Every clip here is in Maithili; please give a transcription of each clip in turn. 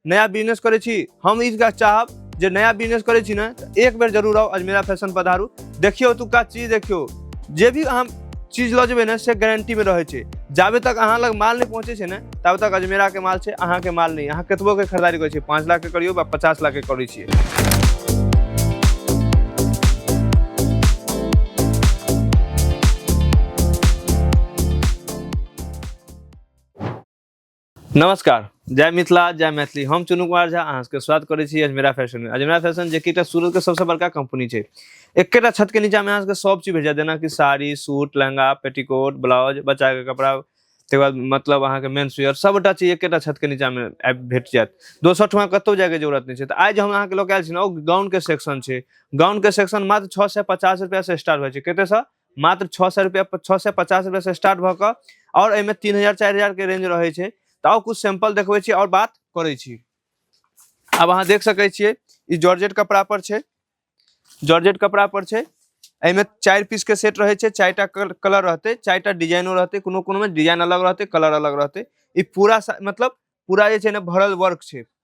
नया बिजनेस करै छी हम ई गाछ चाहब जे नया बिजनेस करै छी ने तऽ एक बेर जरूर आउ अजमेरा फैशन पधारू देखियौ ओतुका चीज देखियौ जे भी अहाँ चीज लऽ जेबै ने से गारंटीमे रहै छै जाबे तक अहाँ लग माल नहि पहुँचै छै ने ताबे तक अजमेराके माल छै अहाँके माल नहि अहाँ कतबोके खरीदारी करै छियै पाँच लाखके करियौ वा पचास लाखके करै छियै नमस्कार जय मिथिला जय मैथिली हम चुनू कुमार झा अहाँ सबके स्वागत करै छी अजमेरा फैशन में अजमेरा फैशन जे कि एकटा सूरत के सबसे बड़का कंपनी छै एकेटा छत के नीचा में अहाँ सबके सब चीज भेट जायत जेना कि sari suit lehenga petticoat blouse बच्चा के कपड़ा तकर बाद मतलब अहाँके मेन्स वेयर सबटा चीज एकेटा छत के नीचा में आबि भेट जायत दोसर ठमा कतौ जाय के जरूरत नहि छै तऽ आइ जे हम अहाँके लऽ के आयल छी ने ओ गाउन के सेक्शन छै गाउन के सेक्शन मात्र छओ सए पचास रुपया से स्टार्ट होइ छै कते सए मात्र छओ सए रुपया छओ सए पचास रुपया से स्टार्ट भऽ कऽ आओर एहिमे तीन हजार चारि हजार के रेंज रहै छै तऽ आओर कुछ सैंपल देखबै छी आओर बात करै छी आब अहाँ देख सकै छियै ई जॉर्जेट कपड़ा पर छै जॉर्जेट कपड़ा पर छै एहिमे चारि पीस के सेट रहै छै चारिटा कलर रहतै चारिटा डिजाइनो रहतै कोनो कोनो में डिजाइन अलग रहतै कलर अलग रहतै ई पूरा मतलब पूरा जे छै ने भरल वर्क छै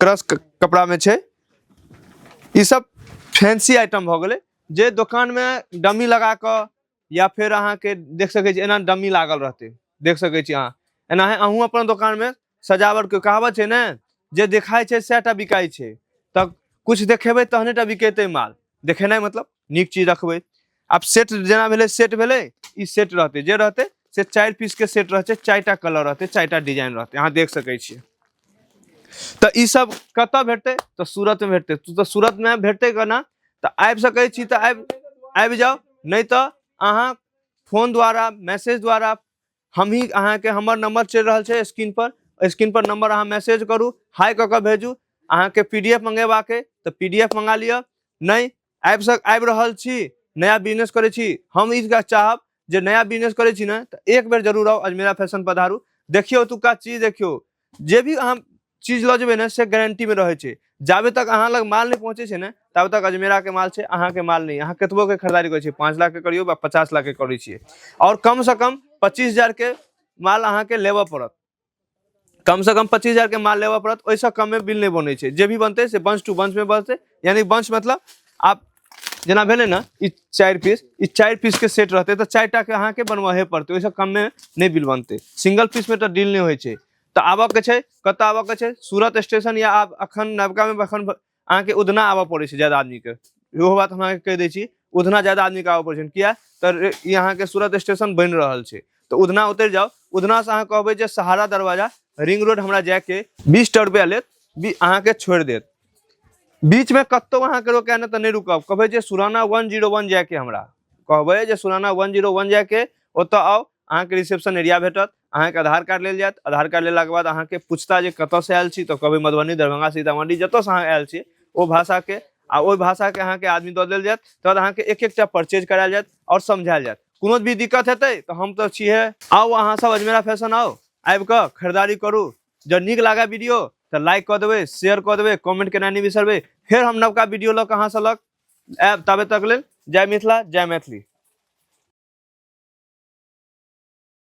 क्रश कपड़ा में छे ये सब फैंसी आइटम हो गए जे दुकान में डमी लगा क या फिर अहा के देख सके छी एना डमी लागल रहते देख सके छी अहा एना है अहू अपन दुकान में सजावट के कहावत है ना जे दिखाई छे सैटा बिकाई छे तब कुछ देखेबे तहने टा बिकेते माल देखेना मतलब निक चीज रखबे आब सेट जेना भेलै सेट भेलै ई सेट रहतै जे रहतै से चारि पीसके सेट रहतै चारिटा कलर रहतै चारिटा डिजाइन रहतै अहाँ देख सकै छियै तऽ ई सब कतऽ भेटतै तऽ सूरतमे भेटतै तू तऽ सूरतमे भेटतै केना तऽ आबि सकै छी तऽ आबि आबि जाउ नहि तऽ अहाँ फोन द्वारा मैसेज द्वारा हमही अहाँके हमर नंबर चलि रहल छै स्क्रीन पर स्क्रीन पर नंबर अहाँ मैसेज करू हाय कऽ कऽ भेजू अहाँके पी डी एफ मंगेबाक अइ तऽ पी डी एफ मंगा लिअ नहि आबि सक आबि रहल छी नया बिजनेस करै छी हम ई चीज चाहब जे नया बिजनेस करै छी ने तऽ एक बेर जरूर आउ अजमेरा फैशन पधारू देखियौ ओतुका चीज देखियौ जे भी अहाँ चीज लऽ जेबै ने से गारंटीमे रहै छै जाबे तक अहाँ लग माल नहि पहुँचै छै ने ताबे तक अजमेराके माल छै अहाँके माल नहि अहाँ कतबोके खरीदारी करै छियै पाँच लाखके करियौ वा पचास लाखके करै छियै आओर कमसँ कम पच्चीस हजारके माल अहाँके लेबऽ पड़त कमसँ कम पच्चीस हजारके माल लेबऽ पड़त ओहिसँ कममे बिल नहि बनै छै जे भी बनतै से बंश टू बंशमे बनतै यानी बंश मतलब आब जेना भेलै ने ई चारि पीस ई चारि पीसके सेट रहतै तऽ चारि टाके अहाँके बनबहे पड़तै ओहिसँ कममे नहि बिल बनतै सिंगल पीसमे तऽ डील नहि होइ छै तऽ आबऽके छै कतऽ आबऽके छै सूरत स्टेशन या आब एखन नवकामे एखन अहाँके उधना आबऽ पड़ै छै ज्यादा आदमीके इहो बात हम अहाँके कहि दै छी उधना ज्यादा आदमीके आबऽ पड़ै छै किया तऽ ई अहाँके सूरत स्टेशन बनि रहल छै तऽ उधना उतरि जाउ उधनासँ अहाँ कहबै जे सहारा दरवाजा रिंग रोड हमरा जायके बीस टा रुपैआ लेत बी अहाँके छोड़ि देत बीचमे कतहु अहाँके रोकै नहि तऽ नहि रुकब कहबै जे सुराना वन जीरो वन जायके हमरा कहबै जे सुराना वन जीरो वन जायके ओतऽ आउ अहाँके रिसेप्शन एरिया भेटत अहाँके आधार कार्ड लेल जायत आधार कार्ड लेलाके बाद अहाँके पूछता जे कतऽसँ आयल छी तऽ कहबै मधुबनी दरभंगा सीतामढ़ी जतऽसँ अहाँ आयल छी ओ भाषाके आ ओहि भाषाके अहाँके आदमी दऽ देल जायत तहन अहाँके एक एकटा परचेज करायल जायत आओर समझायल जायत कोनो भी दिक्कत हेतै तऽ हम तऽ छिहे आउ अहाँ सब अजमेरा फैशन आउ आबि कऽ खरीदारी करू जँ नीक लागय वीडियो तऽ लाइक कऽ देबै शेयर कऽ देबै कमेंट केनाइ नहि बिसरबै फेर हम नवका वीडियो लऽ कऽ अहाँसँ लग आयब ताबे तक लेल जय मिथिला जय मैथिली